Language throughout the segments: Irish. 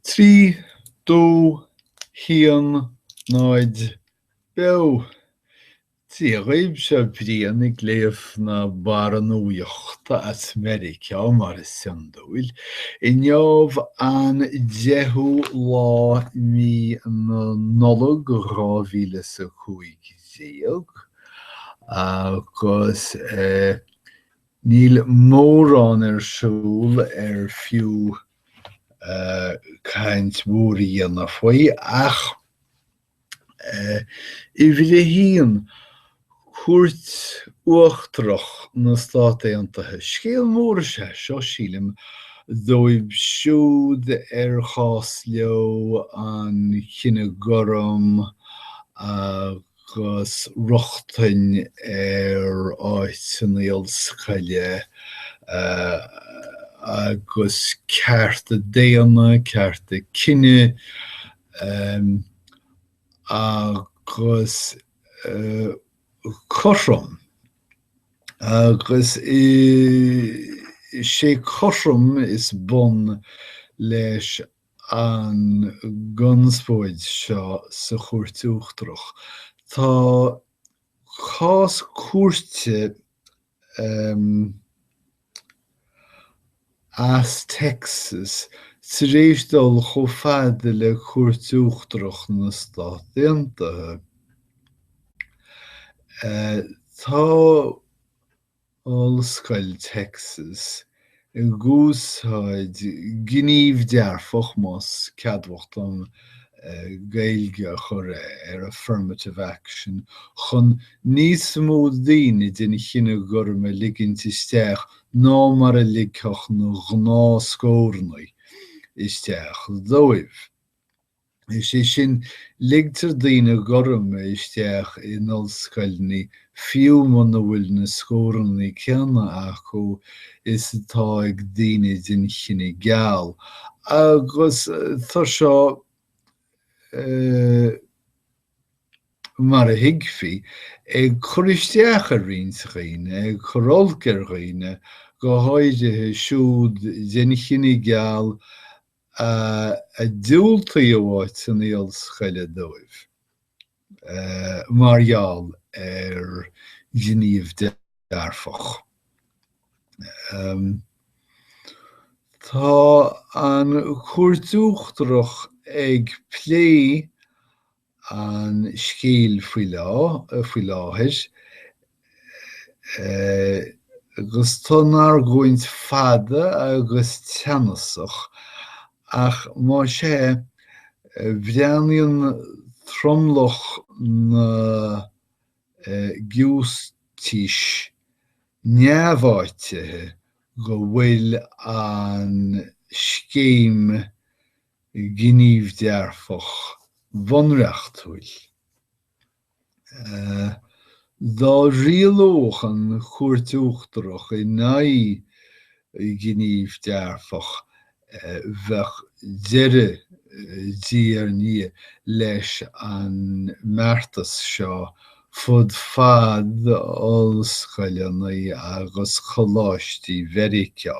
Trí, dó, haon, náid, beo. Dia dhaoibh, seo Brian ag léamh na barra nuachta as Meiriceá, mar is iondúil, inniu an 10ú lá de mhí na Nollag 2015, agus. Níl mórán ar siúl ar fiú caint mhór a dhéanamh faoi, ach uimhir a haon, Cúirt Uachtarach na Stát Aontaithe. Scéal mór is ea seo, sílim, dóibh siúd ar chás leo an cine gorm a agus rochtain ar áiteanna ollscoile agus cearta daonna, cearta cine agus cothrom. Agus is é cothrom is bun leis an gconspóid seo sa Chúirt Uachtarach. Tá cás cúirte as Texas tar éis dul chomh fada le Cúirt Uachtarach na Stát Aontaithe. Tá Ollscoil Texas, ag úsáid gníomh dearfach, más ceadmhach dom Gaeilge a chur ar affirmative action, chun níos mó daoine den chine gorm a ligint isteach ná mar a ligfeadh na gnáthscóranna isteach dóibh. Is é sin, ligtear daoine gorma isteach in ollscoileanna fiú muna bhfuil na scóranna céanna acu is atá ag daoine den chine geal, agus tá seo, mar a thuigfí, ag cur isteach ar roinnt dhaoine, ag cur olc ar dhaoine, go háirithe siúd den chine geal a diúltaíodh áiteanna ollscoile dóibh mar gheall ar ghníomh dearfach. Tá an Chúirt Uachtarach ag plé an scéal faoi láthair, agus tá an argóint fada agus teannasach, ach má sea, breathnaíonn tromlach na ngiúistísí neamháitithe go bhfuil an scéim gníomh dearfach bunreachtúil. Dá rialódh an Chúirt Uachtarach in aghaidh gníomh dearfach, bheadh deireadh, diaidh ar ndiaidh, leis an mbeartas seo fud fad ollscoileanna agus choláistí Mheiriceá.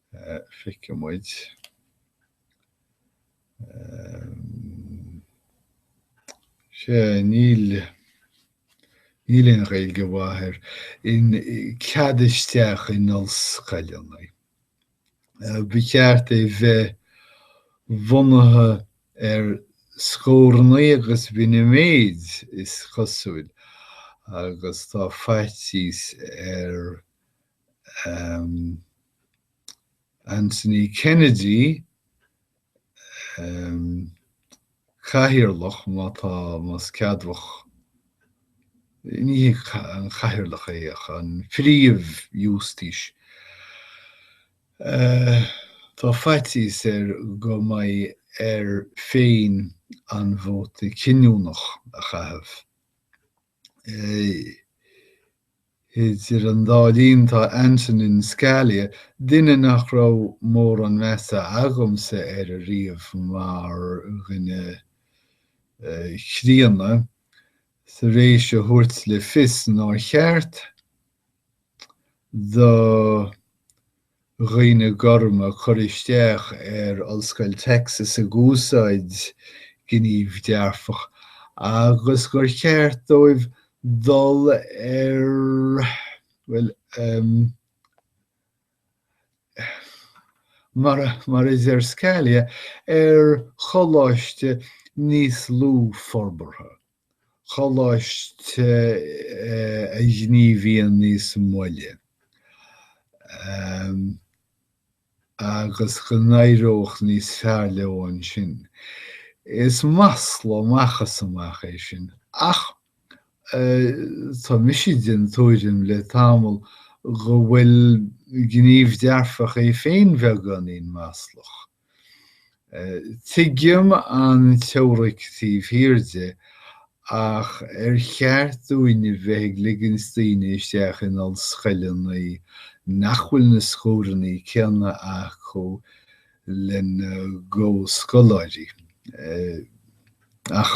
Feicfidh muid sé ní níl aon Ghaeilge mhaith air, an cead isteach in ollscoileanna. Ba cheart é bheith bunaithe ar scóranna agus b'in a mhéid is cosúil agus tá faitíos ar Anthony Kennedy, cathaoirleach, má tá, más ceadmhach, ní hé an cathaoirleach é ach an príomh-ghiúistís. Tá faitíos air go mbeidh air féin an vóta cinniúnach a chaitheamh. Idir an dá linn tá Antonin Scalia, duine nach raibh mórán measa agamsa air ariamh mar dhuine críonna, tar éis a thabhairt le fios nár cheart do dhaoine gorma cur isteach ar Ollscoil Texas ag úsáid gníomh dearfach agus gur cheart dóibh dul ar, bhuel, em, mar a, mar a deir Scalia, ar choláiste níos lú forbartha. choláiste a ghníomhaíonn níos moille, agus go n-éireodh níos fearr leo ansin. Is masla amach is amach é sin, ach tá mise den tuairim le tamall go bhfuil gníomh dearfach é féin beagáinín maslach. Tuigim an teoiric taobh thiar de, ach ar cheart dúinne bheith ag ligint daoine isteach in ollscoileanna nach bhfuil na scóranna céanna acu lena gcomhscoláirí? Ach.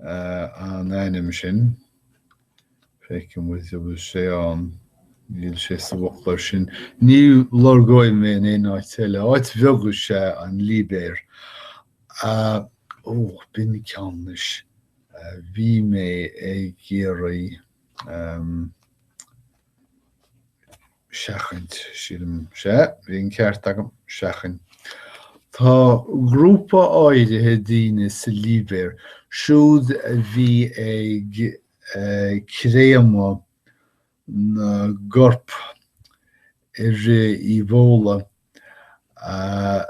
an ainm sin. Feicim go bhfuil sé ann. Níl sé sa bhfoclóir sin. Ní lorgóidh mé in aon áit eile. Áit bheag is ea an Libéir. Ó, b'in ceann a. Bhí mé ag iarraidh. seachaint, sílim. Sea, bhí an ceart agam, seachain. Tá grúpa áirithe daoine sa Libéir, siúd a bhí ag créamadh na gcorp i rith Ebola, a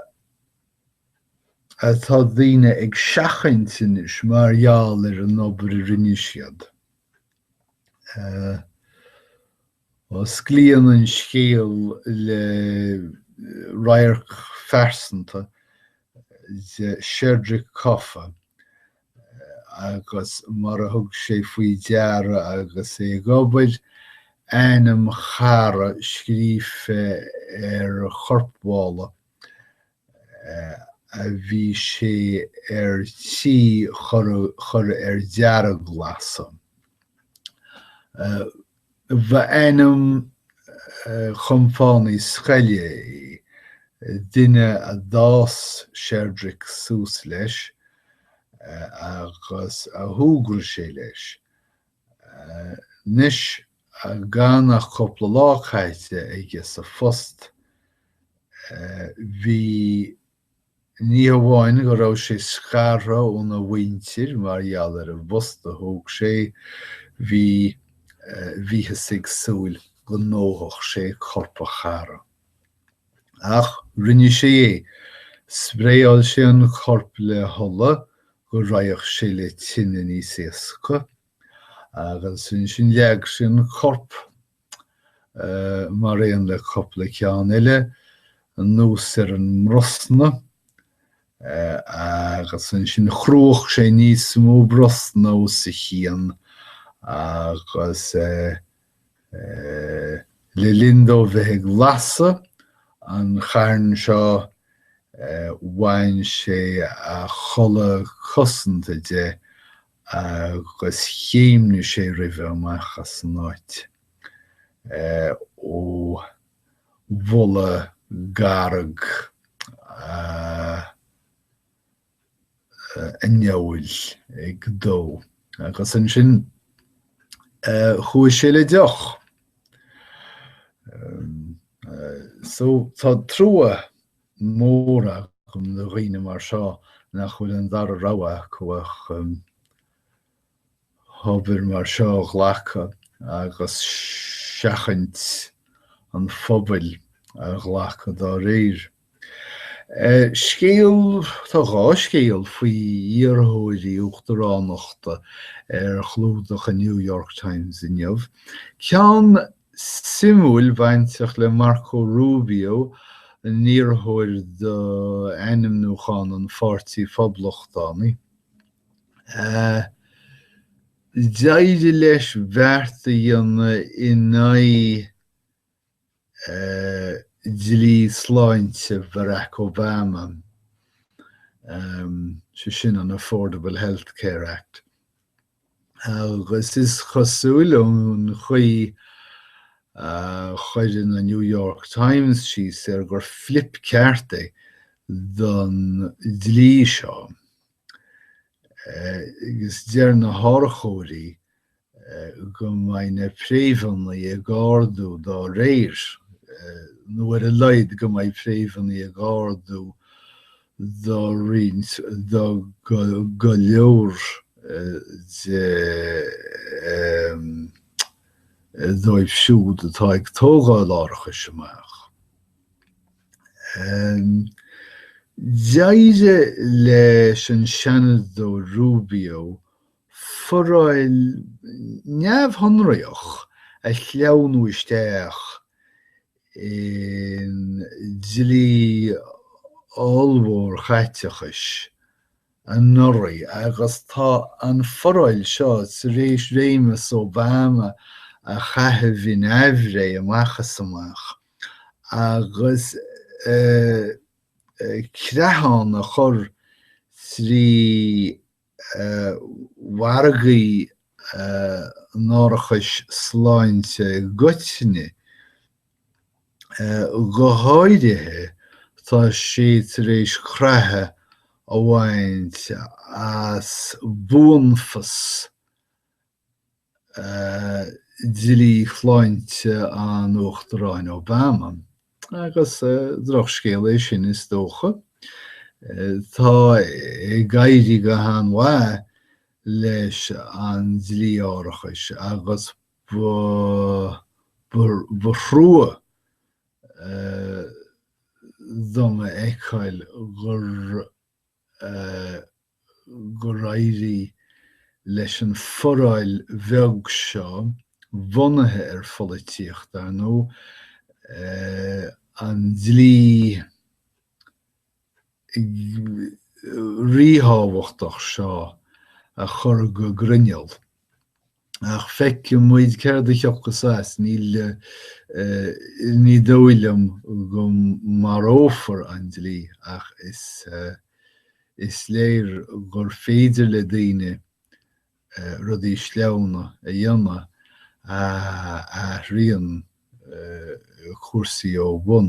atá daoine ag seachaint anois mar gheall ar an obair a rinne siad. Osclaíonn an scéal le radharc phearsanta de Sherdrick Koffa agus mar a thug sé faoi deara agus é ag obair, ainm chara scríofa ar chorpmhála a bhí sé ar tí chur ar dearglasadh. B' ainm chompánaigh scoile é, duine a d'fhás Sherdrick suas leis agus a shúgradh sé leis. Anois Gan ach cúpla lá caite aige sa phost, bhí, ní hamháin go raibh sé scartha óna mhuintir mar gheall ar an bpost a thóg sé, bhí, bhíothas ag súil go ndófadh sé corp a chara. Ach rinne sé é. Spraeáil sé an corp le hola go raghadh sé le tine níos éasca. agus ansin leag sé an corp, mar aon le cupla ceann eile, anuas ar an mbrosna, agus ansin chruach sé níos mó brosna os a chionn, agus le linn dó bheith ag lasadh an chairn seo, bhain sé a chulaith cosanta de, agus chéimnigh sé roimhe amach as an áit ó bholadh garg an fheoil ag dó, agus ansin chuaigh sé le deoch. So tá trua mór agam do dhaoine mar seo nach bhfuil an dara rogha acu ach obair mar seo a ghlacadh agus seachaint an phobail a ghlacadh dá réir. Scéal, tá dhá scéal faoi iarrthóirí uachtaránachta ar chlúdach an New York Times inniu, ceann suimiúil bainteach le Marco Rubio, an iarrthóir do ainmniúchán an Pháirtí Phoblachtánaigh. D'éirigh leis beart a dhéanamh in aghaidh dlí sláinte Barack Obama, sé sin an Affordable Health Care Act. agus is cosúil ón chaoi a chuir na New York Times síos air gur flíp ceart é don dlí seo. Agus deir na hárachóirí go mbeidh na préimheanna ag ardú dá réir, nó ar a laghad go mbeidh préimheanna ag ardú do roinnt, do go leor de dóibh siúd atá ag tógáil árachais amach. D'éirigh leis an Seanadóir Rubio foráil neamhshonraíoch a shleamhnú isteach i ndlí ollmhór chaiteachais anuraidh agus tá an foráil seo tar éis réimeas Obama a chaitheamh in aimhréidh amach is amach agus creathán a chur trí mhargaí an árachais sláinte i gcoitinne. Go háirithe, tá sé tar éis creathadh a bhaint as buanfas dlí shláinte an Uachtaráin Obama, agus drochscéal é sin is dócha. Tá ag éirí go han-mhaith leis an dlí árachais agus ba thrua dom a fheiceáil gur gur éirigh leis an foráil bheag seo, bunaithe ar pholaitíocht, dar ndóigh, an dlí ríthábhachtach seo a chur go grinneall. ach feicimid céard a thiocfas as, ní dóigh liom go marófar an dlí ach is léir gur féidir le daoine rudaí sleamhna a dhéanamh a athraíonn cúrsaí ó bhun.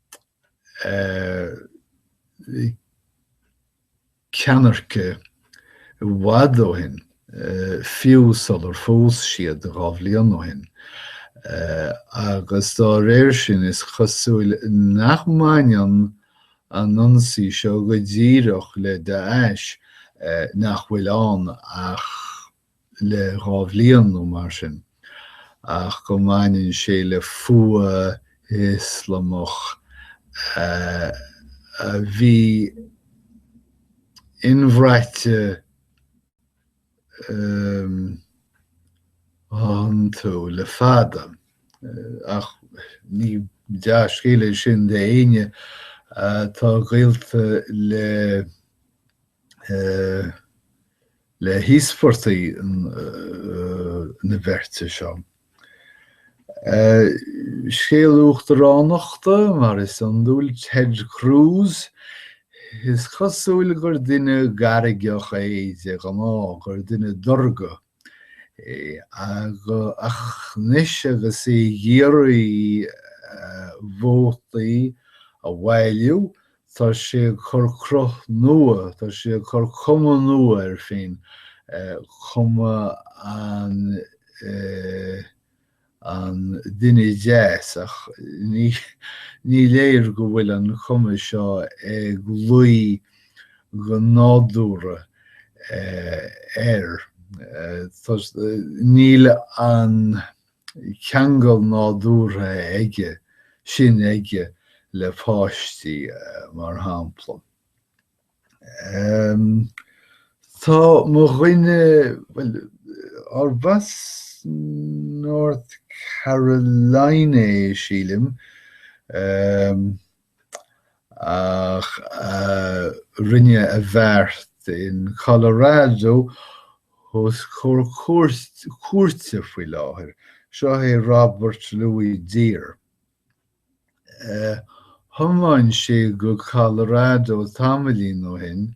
ceannairc i bhfad ó shin, fiú sular phós siad dhá bhliain ó shin, agus dá réir sin, is cosúil nach mbaineann an ionsaí seo go díreach le Daesh, nach bhfuil ann ach. le dhá bhliain nó mar sin, ach go mbaineann sé le fuath Ioslamach a bhí inbhraite iontu le fada. Ach ní dea-scéal é sin d'éinne atá gaolta le. le híospartaigh na beirte seo. Scéal uachtaránachta, mar is iondúil, Ted Cruz, is cosúil gur duine gairgeach é de ghnáth, gur duine dorrga é, ach anois agus é ag iarraidh vótaí a bhailiú tá sé ag cur cruth nua, tá sé ag cur cuma nua air féin, cuma an duine deas, ach ní léir go bhfuil an cuma seo ag luí go nádúrtha air. Níl an. ceangal nádúrtha aige sin aige le páistí, mar shampla. Tá mo dhuine, bhuel, arb as North Carolina é, sílim, ach rinne a bheart in Colorado os comhair cúirte faoi láthair. Seo é Robert Lewis Dear. Thiomáin sé go Colorado tamaillín ó shin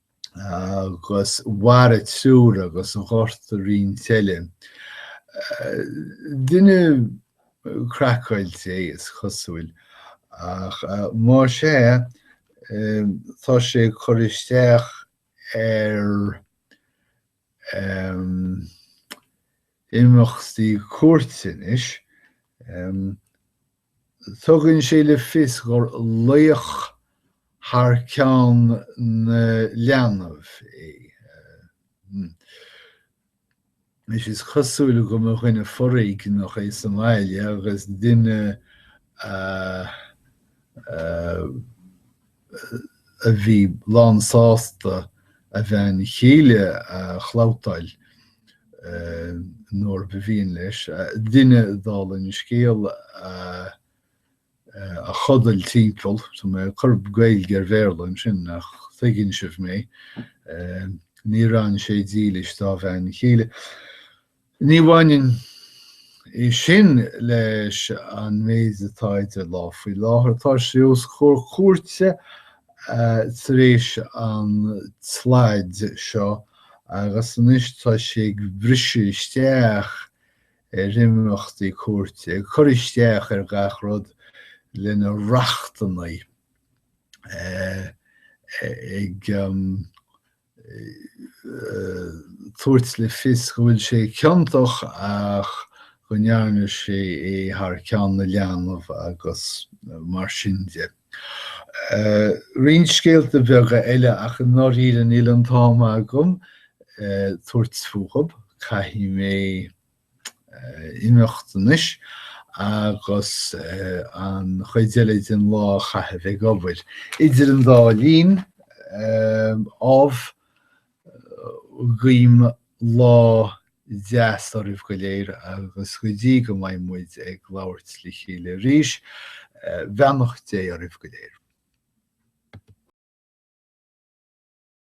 agus mharaigh triúr agus ghortaigh roinnt eile. Duine craiceáilte é is cosúil, ach más é, tá sé ag cur isteach ar imeachtaí cúirte anois. Tugann sé le fios gur laoch thar ceann na leanbh é. Anois, is cosúil go mba dhuine foréigneach é sa mbaile agus duine. a bhí lánsásta a bhean chéile a chlabhtáil nuair ba mhian leis, duine, dála an scéil, a chodail timpeall, tá mé ag cur Gaeilge ar Bhéarla ansin nach dtuigeann sibh mé, níor fhan sé dílis dá bhean chéile. Ní bhaineann sé sin leis an méid atá idir lámh faoi láthair. Tá sé os comhair cúirte tar éis an tslad seo agus anois tá sé ag briseadh isteach ar imeachtaí cúirte, ag cur isteach ar gach rud lena rachtannaí, ag. tabhairt le fios go bhfuil sé ciontach ach go ndearna sé é thar ceann na leanbh agus mar sin de. Roinnt scéalta beaga eile ach i ndáiríre níl an t-am agam tabhairt fúthu, caithfidh mé. imeacht anois agus an chuid eile den lá a chaitheamh ag obair. Idir an dá linn, ámh, guím lá deas oraibh go léir agus go dtí go mbeidh muid ag labhairt le chéile arís, beannacht Dé oraibh go léir.